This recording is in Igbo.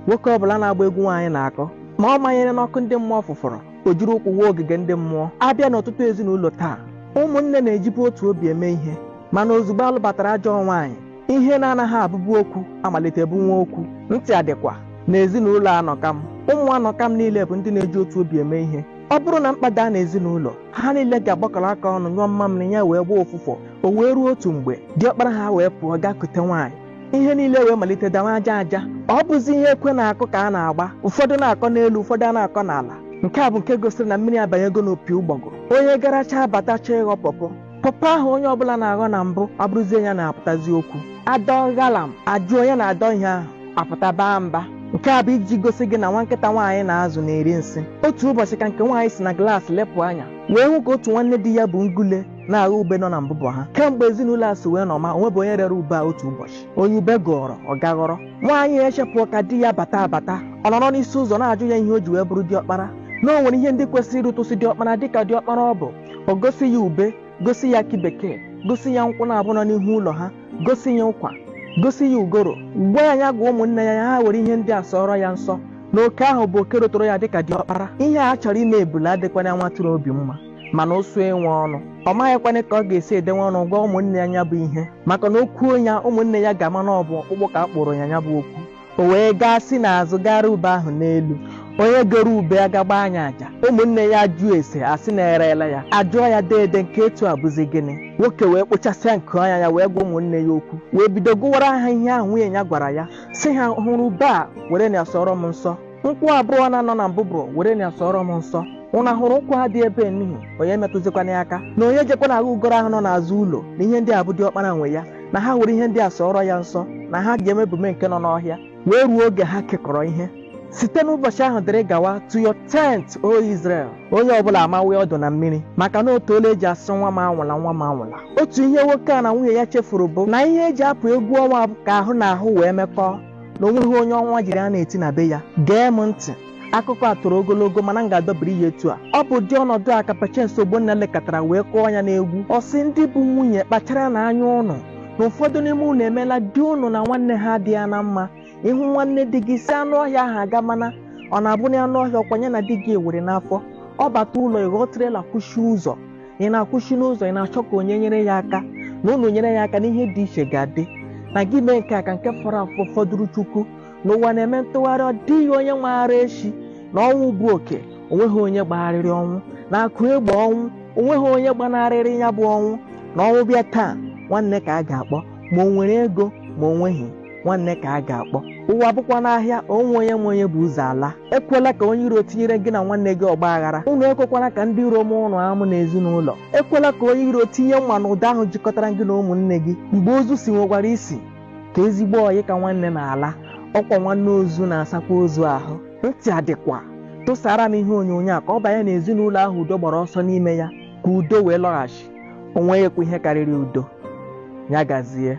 nwoke ọbụla na-agba egwu nwaanyị na-akụ ma ọ manyere n'ọkụ ndị mmụọ fụfụrụ o jiri ụkwụ wụọ ogige ndị mmụọ a bịa n'ọtụtụ ezinụlọ taa ụmụnne na-ejibu otu obi eme ihe mana ozugbo a lụbatara ajọ nwaanyị ihe na-anaghị abụbu okwu amalite bụwa okwu ntị adịkwa na ezinụlọ anọkam ụmụ anọkam niile bụ ndị na-eji otu obi eme ihe ọ bụrụ na mkpa daa n'ezinụlọ ha niile ga-agbakọrọ aka ọnụ nyụọ mmamịrị ya wee gbaa ụfụfụ o wee ruo otu mgbe diọkpara ha wee pụọ gaa kute nwaanyị ihe niile wee malite dawa aja aja ọ bụzi ihe ekwe na-akụ ka a na-agba ụfọdụ na-akọ n'elu ụfọdụ a na-akọ n'ala nke a bụ nke gosiri na mmiri abanyego n'opi ụgbọgụrụ onye garachaa bata chọọ ịghọ pọpọ pọpọ ahụ onye ọbụla na-aghọ na mbụ abụrụzie ya na-apụtazi okwu a dọ ghalam a jụ onye na-adọ ihe ahụ apụta baa mba nke a bụ iji gosi gị na nwa nkịta nwaanyị na-azụ na-eri nsị otu ụbọchị ka nke nwaanyị si na glaasị lepụ anya wee hụ ka otu nwanne di ya bu ngule na-aghọ ube nọ na mbụbọ ha kemgbe ezinụlọ a si wee nọma o nwebu onye rere ube a otu ụbọchị onye ube gụrụ ọ gaa ghọrọ nwaanyị echepụọ ka di ya bata abata ọ nọrọ n'isi ụzọ na-ajụ ya ihe o ji wee bụrụ diọkpara na o nwere ihe ndị kwesịrị irutusi diọkpara dịka diọkpara ọ bụ o gosi ya ube gosi ya akị bekee gosi ya nkwụ naabọ nọ n'ihu ụlọ ha gosi ya ụkwa gosi ya ugoro gwa ya ya gwa ụmụnne ya ya ha were ihe ndị a sọọrọ ya nsọ na oke ahụ bụ oke ruturu ya dịka diọkpara ihe a chọrọ ime ebule adịkwana nwa atụrụ obi mma mana ụsụ enwe ọnụ ọ maghịkwana ka ọ ga-esi edenwe ọnụ gwa ụmụnne ya ya bụ ihe maka na o kwuo ya ụmụnne ya ga-ama na ọ bụ ọkpụkpụ ka a kpụụrụ ya ya bụ okwu O wee gaa si n'azụ gaa ree ube ahụ n'elu. Onye goro ube agaa gbaa ya aja. Ụmụnne ya ajụọ ese a sị na e reela ya. A jụọ ya deede nke etu a bụzi gịnị? Nwoke wee kpochasịa nku anya ya wee gwa ụmụnne ya okwu. Wee bido gụwara ha ihe ahụ nwunye ya gwara ya. Sị ha hụrụ ube a werenụ ya sọọrọ m nsọ. nkwụ abụọ na-anọ na mbụbọ werenụ ya sọọrọ m nsọ ụna hụrụ nkwụ a dị ebe n'ihu onye metụzikwana ya aka na onye jekwana aghọ ugoro ahụ nọ n'azụ ụlọ na ihe ndị a bụ diọkpara nwe ya na ha were ihe ndị a sọọrọ ya nsọ na ha ga-emebume nke nọ n'ọhịa wee ruo oge ha kekọrọ ihe site n'ụbọchị ahụ dịrị gawa to your tent o Israel onye ọbụla amawe ọdụ na mmiri maka na o too ole e ji asị nwa m anwụla nwa m anwụla otu ihe nwoke a na nwunye ya chefuru bụ na ihe e ji apụ egwu ọnwa bụ ka ahụ na ahụ wee mekọọ na o nweghị onye ọnwa jiri a na-eti na be ya gee m ntị akụkọ a toro ogologo mana m ga-adọbiri ya etu a ọ bụ ụdị ọnọdụ a ka Patience Ogbonna lekọtara wee kụọ ya n'egwu ọ sị ndị bụ nwunye kpacharanụ anya ụnụ na ụfọdụ n'ime ụnụ emeela di ụnụ na nwanne ha adịghị na mma ị hụ nwanne di gị sị anụ ọhịa ahụ aga mana ọ na-abụ na anụ ọhịa ọ kwa ya na di gị ewere n'afọ ọ bata ụlọ ị ghọọ trela kwụchie ụzọ ị na-akwụsị n'ụzọ ị na-achọ ka onye nyere ya aka na ụnụ nyere ya aka na ihe dị iche ga-adị na gị mee nke a ka nke fọrọ afọ fọdụrụ chukwu na ụwa na-eme ntụgharị ọ dịghị onye maara echi na ọnwụ bụ oke o nweghị onye gbagharịrị ọnwụ na akụ egbo ọnwụ o nweghị onye gbanarịrị ya bụ ọnwụ na ọnwụ bịa taa nwanne ka a ga-akpọ ma o nwere ego ma o nweghị nwanne ka a ga-akpọ ụwa bụkwanụ ahịa o nwe onye ma onye bu ụzọ ala ekwela ka onye iro tinyere gị na nwanne gị ọgba aghara unu ekwekwala ka ndị iro mụọ ụnụ amụ n'ezinụlọ ekwela ka onye iro tinye mma n'ụdọ ahụ jikọtara gị na ụmụnne gị mgbe ozu siwekwara isi ka ezigbo ọyị ka nwanne na-ala ọ kwa nwanne ozu na-asakwa ozu ahụ ntị adịkwa tụsara m ihe onyonyo a ka ọ banye n'ezinụlọ ahụ udo gbara ọsọ n'ime ya ka udo wee lọghachi o nweghịkwa ihe karịrị udo ya gazie